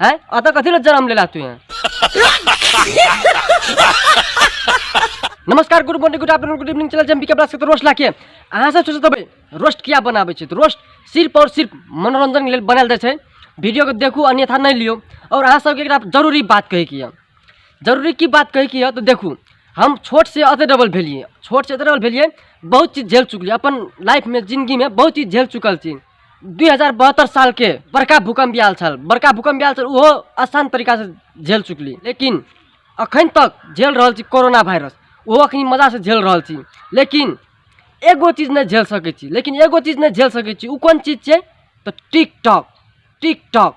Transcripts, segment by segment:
है अतः कथी ले जन्म लेला तू हैं नमस्कार good morning good afternoon good evening चला जम के ब्लास्ट के रोस्ट लाके अहाँ सब सोचत हबै रोस्ट किया बनाबै छै रोस्ट सिर्फ और सिर्फ मनोरंजन के लिए बनाल जाए वीडियो को देखू अन्यथा नहीं लियो और अहाँ सबके एक जरूरी बात कहे की जरूरी की बात कहे की तो देखू हम छोट से अत डबल भेलिए छोट से अत डबल भेलिए बहुत चीज झेल चुकलिए अपन लाइफ में जिंदगी में बहुत चीज झेल चुकल छी दुई हजार बहत्तर सालके बड़का भूकम्प आयल छल बड़का भूकम्प आयल छल ओहो आसान तरीकासँ झेल चुकली लेकिन अखन तक झेल रहल छी कोरोना वायरस ओहो अखन मजासँ झेल रहल छी लेकिन एगो चीज नहि झेल सकै छी लेकिन एगो चीज नहि झेल सकै छी ओ कोन चीज छै तऽ टिकटॉक टिकटॉक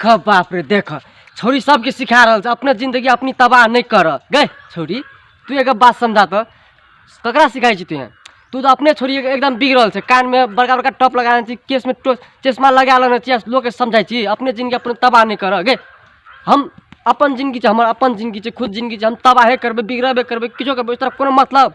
ख बाप रे देख छौरी सबके सिखा रहल छै अपने जिंदगी अपनी तबाह नहीं कर गए छौरी तू एक बात समझा तो ककरा सिखाई छी तू यहाँ तू तो अपने छोरी एकदम बिग रहल छै कान में बड़का बड़का टॉप लगा छी केस में टो- चश्मा लगा लेने छी लोग के समझाई छी अपने जिंदगी अपने तबाह नहीं कर गए हम अपन जिंदगी छै हमर अपन जिंदगी छै खुद जिंदगी छै हम तबाहे करबै बिगड़बे करबै किछो करबै ओहि तरह कोनो मतलब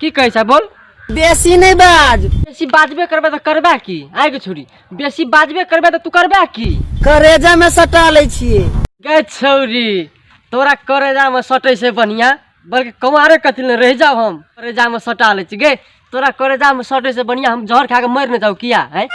की कहै छै बोल बेसी नहीं बाज बेसी बाजबे करबे तऽ करबे की आइ के छोड़ी बेसी बाजबे करबे तऽ तू करबे की करेजा में सटा ले छिए गे छौरी तोरा करेजा में सटे से बढ़िया बल्कि कमारे कथी ले रह जाओ हम करेजा में सटा ले छी गे तोरा करेजा में सटे से बढ़िया हम जहर खा के मर न जाऊ किया है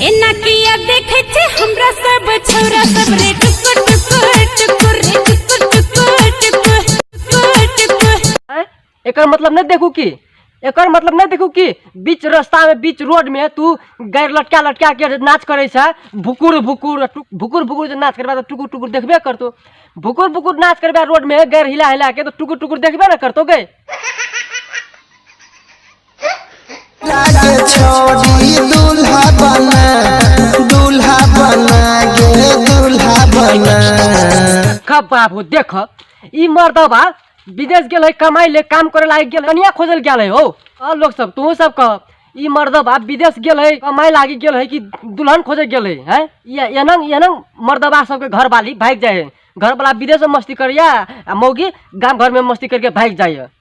एना किया देखे छे हमरा सब छोरा सब रे टुकुर टुकुर टुकुर रे टुकुर टुकुर टुकुर टुकुर टुकुर हैं? एकर मतलब नहीं देखू की एकर मतलब नहीं देखू की बीच रास्ता में बीच रोड में तू गैर लटका लटका के जे नाच करे छै भुकुर भुकुर टु- भुकुर भुकुर जे नाच करबा तो टुकुर टुकुर देखबे करतो भुकुर भुकुर नाच करबा रोड में गैर हिला हिला के तो टुकुर टुकुर देखबे ना करतो गए लागे छोड़ी दूल्हा बना दूल्हा बना गे दूल्हा बना देख बाबू देख ई मर्दबा विदेश गेल है कमाई ले काम करे लागे गेल कनिया खोजल गेल है हो और लोग सब तू सब कह ई मर्दबा विदेश गेल है कमाई लागे गेल है कि दुल्हन खोजे गेल है हैं ये एनंग एनंग मर्दबा सबके घर वाली भाग जाए है घर वाला विदेश में मस्ती करिया आ मौगी गांव घर में मस्ती करके भाग जाए है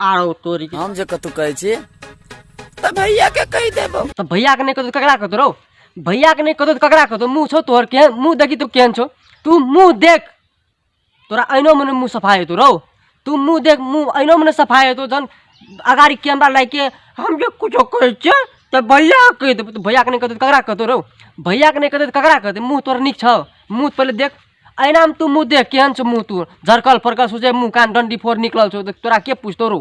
आरो तोरी के हम जे कतौ कहै छी तऽ भैया के कहि देबो तऽ भैया के नहि कतौ ककरा कतौ रौ भैया के नहि कतौ तऽ ककरा कतौ मुंह छौ तोहर केहन मुंह देखी तू केहन छौ तू मुंह देख तोरा अहिनो मने मुंह सफाइ हेतौ रौ तू मुंह देख मुंह अहिनो मने सफाइ हेतौ जहन अगाड़ी कैमरा लागि के हम जे कुछो कहै छियै तऽ भैया के कहि देबौ तऽ भैया के नहि कतौ तऽ ककरा कतौ रौ भैया के नहि कतौ तऽ ककरा कतौ मुंह तोहर नीक छौ मुंह पहिले देख अहिना हम तू मुँह देख केहन छौ मुँह तू झरकल फरकल सोचे मुँह कान डंडी फोड़ निकलल छौ तोरा के पूछतो रो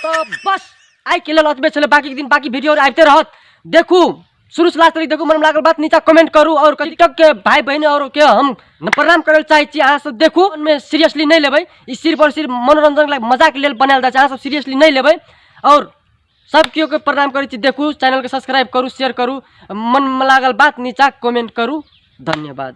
तो बस आइ के लेल अतबे छलै बाकी दिन बाकी वीडियो आबिते रहत देखू शुरू से लास्ट तक देखू मन लागल बात नीचा कमेंट करू और टिकटॉक के भाई बहन और के हम प्रणाम करे चाहे छी अहाँ सब देखू में सीरियसली नहीं लेबै ई सिर्फ और सिर्फ मनोरंजन लाग मजाक लेल बनायल जाय छै अहाँ सब सीरियसली नहीं लेबै और सब केओ के प्रणाम करै छी देखू चैनल के सब्सक्राइब करू शेयर करू मन में लागल बात नीचा कमेंट करू धन्यवाद